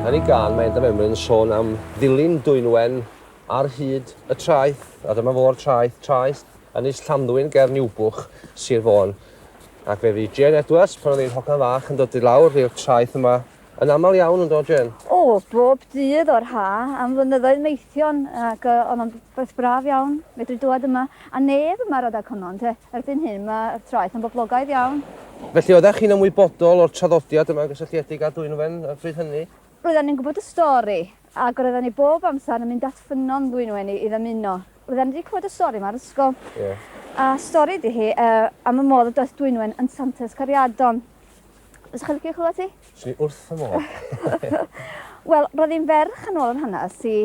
Yn ei gan, mae Endaf Emlyn yn sôn am ddilyn dwynwen ar hyd y traeth, a dyma fo'r traeth, traeth Ynys Llanddwyn ger Niwbwch, Sir Fôn. Ac fe fu Jane Edwards, pan oedd ein hogan fach yn dod i lawr i'r traeth yma, yn aml iawn, yn dod Jane? O, bob dydd o'r ha, am flynyddoedd maethion, ac oedd o'n beth braf iawn, medru dod yma. A neb yn marad ag honno, ynte? Erbyn hyn, mae'r traeth yn boblogaidd iawn. Felly, oeddech chi'n ymwybodol o'r traddodiad yma'n gysylltiedig â Dwynwen y pryd hynny? Roedden ni'n gwybod y stori, ac roedden ni bob amser yn mynd at ffynnon Ddwynwen i ddymuno. Roedden ni wedi clywed y stori yma ar ysgol. Ie. A stori ydy hi, yy, am y modd y doeth Dwynwen yn Santes Cariadon. Fysa chi'n licio clywed hi? Swn i wrth fy modd. Wel, roedd hi'n ferch yn ôl yr hanes i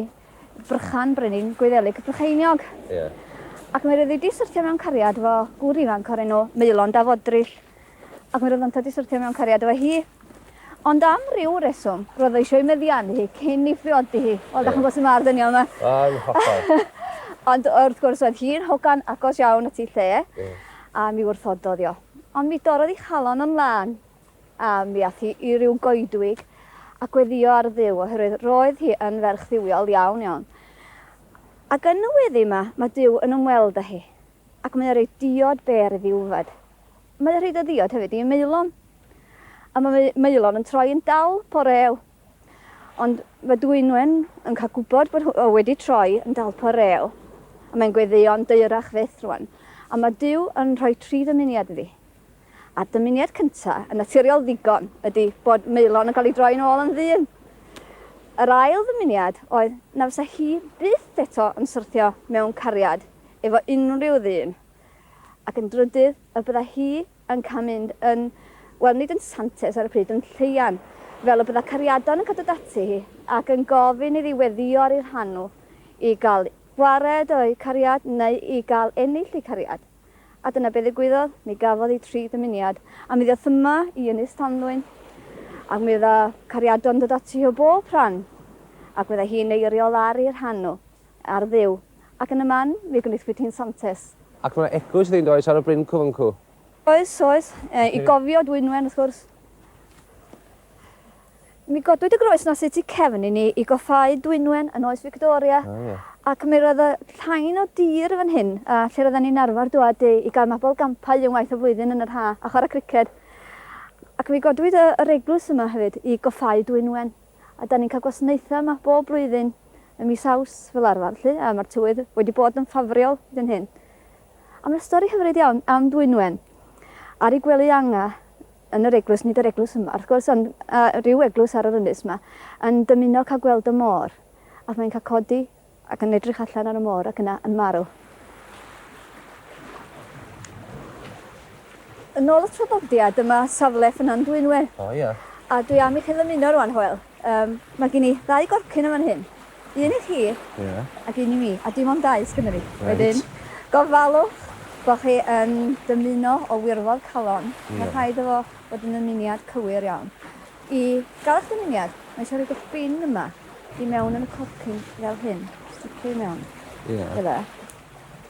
Brychan, Brenin, Gwyddelig, Brycheiniog. Ie. Ac mi roedd hi 'di syrthio mewn cariad efo gŵr ifanc o'r enw Maelon da Fodril. Ac mi roedd yntau 'di syrthio mewn cariad efo hi. Ond am ryw reswm, roedd o eisiau ei meddianu hi cyn ei phriodi hi. Wel, da chi'n gwybod sut mae'r ddynion yma. A, yn hollol. Ond wrth gwrs, oedd hi'n hogan agos iawn at ei lle, a mi wrthododd i o. Ond mi dorrodd ei chalon o'n lân. A mi ath hi i ryw goedwig a gweddïo ar Dduw, oherwydd roedd hi yn ferch dduwiol iawn, iawn. Ac yn y weddi yma, mae Duw yn ymweld â hi, ac mae e'n rhoi diod bêr iddi wfed. Mae e'n rhoi dy ddiod hefyd i Maelon. A mae Maelon yn troi yn dal porew. Ond mae Dwynwen yn cael gwybod bod o wedi troi yn dal porew. A mae'n gweddïo'n deyrach fyth rwan. A mae Duw yn rhoi tri ddymuniad iddi. A'r dymuniad cynta, yn naturiol ddigon, ydi bod Maelon yn cael ei droi'n ôl yn ddyn. Yr ail ddymuniad oedd na fysa hi byth eto yn syrthio mewn cariad efo unrhyw ddyn. Ac yn drydydd, y bydda hi yn cael mynd yn, wel, nid yn santes ar y pryd, yn lleian, fel y bydda cariadon yn cael dod ati hi ac yn gofyn iddi weddio ar ei rhan nhw i gael gwared o'u cariad neu i gael ennill eu cariad. A dyna be ddigwyddodd, mi gafodd hi tri dymuniad. A mi ddoth yma i Ynys Tanddwyn, ac mi fydda cariadon yn dod ati o bob rhan, ac fydda hi'n eiriol ar ei rhan nhw, ar Dduw, ac yn y man mi gwnithwyd hi'n santes. Ac mae 'na eglwys iddi, yn does, ar y bryn cyfyngcu? Oes, oes, i gofio Dwynwen, wrth gwrs. Mi godwyd y groes na sy tu cefn i ni i goffáu Dwynwen yn oes Victoria ac mi roedd y llain o dir fan hyn lle roedden ni'n arfer dŵad i gael mabl gampau unwaith y flwyddyn yn yr ha a chwarae criced. Ac mi godwyd yr eglwys yma hefyd i goffáu Dwynwen a da ni'n cael gwasnaethau yma bob blwyddyn ym mis Aws fel arfer 'lly a mae'r tywydd wedi bod yn ffafriol hyd yn hyn. A mae 'na stori hyfryd iawn am Dwynwen ar ei gwely anga yn yr eglwys, nid yr eglwys yma wrth gwrs, ond uh, rhyw eglwys ar yr ynys yma, yn dymuno cael gweld y môr. Ac mae'n cael codi ac yn edrych allan ar y môr ac yna yn marw. Yn ôl y traddodiad, dyma safle Ffynnon Dwynwen. O, oh, ia. Yeah. A dwi am i chi ddymuno rwan, Hoel. Um, mae gen i ddau gorcyn yma'n hyn. Un i chi. Ie. Ac un i mi. A dim ond dau sgynno fi. Reit. Wedyn, gofalwch bo chi yn dymuno o wirfodd calon. Ie. Ma' rhaid efo fod yn ymuniad cywir iawn. I ga'l eich dymuniad, ma' isio rhoid eich bin yma i mewn yn y corcyn fel hyn. Sticio i mewn. Ie. Fel 'a.